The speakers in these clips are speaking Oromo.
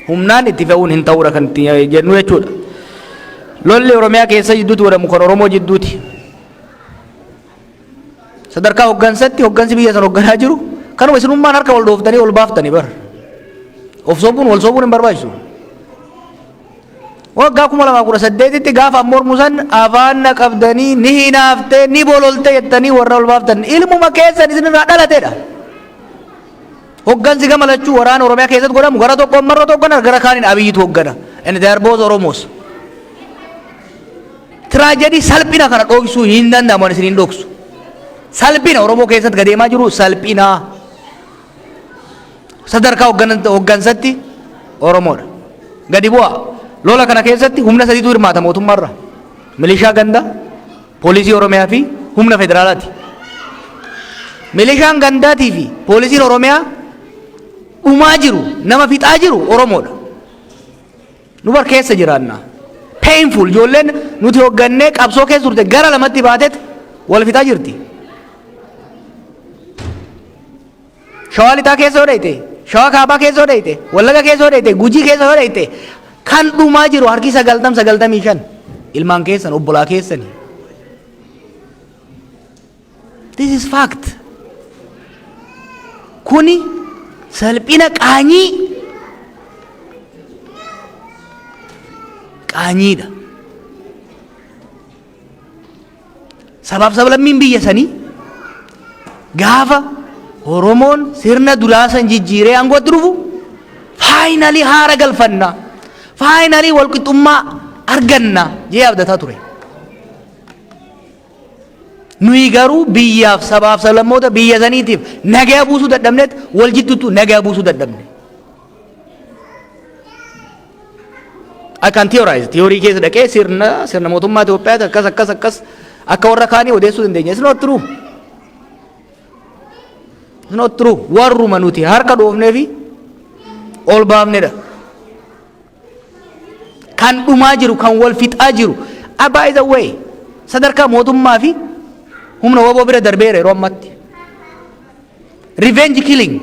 humnaan itti fe'uun hin ta'uudha kan itti jennu jechuudha. Lolli Oromiyaa keessa jidduutti godhamu kan Oromoo jidduuti. Sadarkaa hoggansatti hoggansi biyya san hogganaa jiru kanuma isinummaan harka wal dhooftanii wal baaftanii bara. Of sobuun wal sobuun hin barbaachisu. Waggaa kuma lamaa kudha saddeetitti gaafa mormu san afaan na qabdanii ni hinaaftee ni bololtee jettanii warra wal baaftan ilmuma keessan isinirraa dhalateedha. Hoggansi gama lachuu waraana Oromiyaa keessatti godhamu gara tokkoon marrootu hoggana gara kaaniin Abiyyitu hoggana. And they are both Oromos. Tiraajedii salphina kana dhoksuu hin danda'amu ani isiniin dhoksu. Salphina Oromoo keessatti gadeemaa jiru salphina. Sadarkaa hoggan- hoggansatti Oromoodha. Gadi bu'a. Lola kana keessatti humna sadiitu hirmaata mootummaarra. Milishaa gandaa, Poolisii Oromiyaa fi humna federaalaati. Milishaan gandaatii fi poolisiin Oromiyaa dhumaa jiru, nama fixaa jiru Oromoodha. Nu bar keessa jiraanna. Painful ijoolleen nuti hoggannee qabsoo keessa turte gara lamatti baateet wal fixaa jirti. Shawaa lixaa keessa yoo dhayte, shawaa kaabaa keessa yoo dhayte, wallaga keessa yoo dhayte, gujii keessa yoo dhayte kan dhumaa jiru harki sagaltam sagaltamii shan ilmaan keessan obbolaa keessani. This is fact. Kuni salphina qaanyii qaanyiidha. Sabaaf sablammiin biyya sanii gaafa Oromoon sirna duraa san jijjiiree aangootti dhufu faayinalii haara galfanna faayinalii walqixxummaa arganna jee abdataa ture. Nuyi garuu biyyaaf sabaaf sablammoota biyya saniitiif nagaa buusuu dadhabneet wal jidduutu nagaa buusuu dadhabne. I can theorize. Theory keessa dhaqee sirna sirna mootummaa Itoophiyaati akkas akkas akkas akka warra kaanii odeessuu dandeenya. It's not true. It's not true. Warruma nuti harka dhoofnee fi ol baafnedha. Kan dhumaa jiru, kan wal fixaa jiru. Ah, by the way, sadarkaa mootummaa fi humna waboo bira darbeera yeroo ammatti. Revenge killing.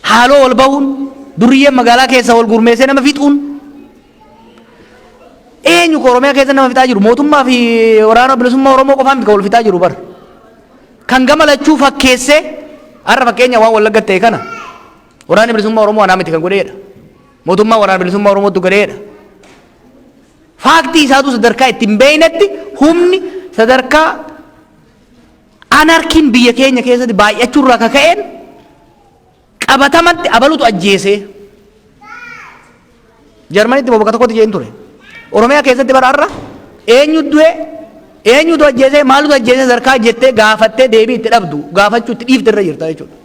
Haaloo wal bahuun durriyyeen magaalaa keessa wal gurmeessee nama fixuun eenyu koo Oromiyaa keessa nama fixaa jiru mootummaa fi waraana bilisummaa Oromoo qofaa miti kan wal fixaa jiru bar. Kan gama lachuu fakkeessee har'a fakkeenya waan wallagga ta'e kana waraanni bilisummaa Oromoo anaa miti kan godheedha. Mootummaa waraana bilisummaa Oromootu godheedha. Faaktii isaatu sadarkaa itti hin beeknetti humni sadarkaa Anarkiin biyya keenya keessatti baay'achuu irraa ka ka'een qabatamatti abalutu ajjeesee. Jarmanitti bakka tokkotti jeen ture. Oromiyaa keessatti bara har'a eenyu du'e eenyutu ajjeesee maalutu ajjeesee sadarkaa jettee gaafattee deebii itti dhabdu gaafachuu itti dhiifte irra jirta jechuudha.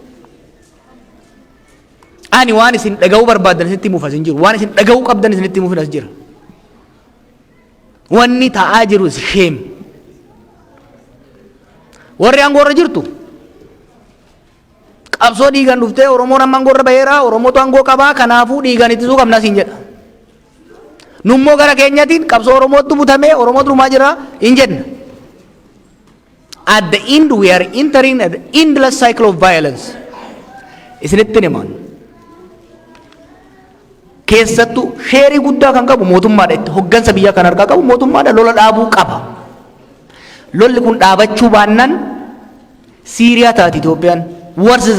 Ani waan isin dhaga'uu barbaadan isinitti himuuf as hin jiru. Waan isin dhaga'uu qabdan isinitti himuuf as jira. Wanni ta'aa jiru is shame. Warri aangoo irra jirtu qabsoo dhiigan dhuftee Oromoon amma aangoo irra baheera Oromootu aangoo qabaa kanaafuu dhiigan ittisuu qabna siin jedha. Nummoo gara keenyatiin qabsoo Oromootu butamee Oromootu dhumaa jira hin jenna. At the end we are entering an endless cycle of violence. Isinittin himaan. Keessattuu sheerii guddaa kan qabu mootummaadha itti hoggansa biyyaa kan harkaa qabu mootummaadha lola dhaabuu qaba. Lolli kun dhaabachuu baannaan Siiriyaa taati Itoophiyaan. Worse than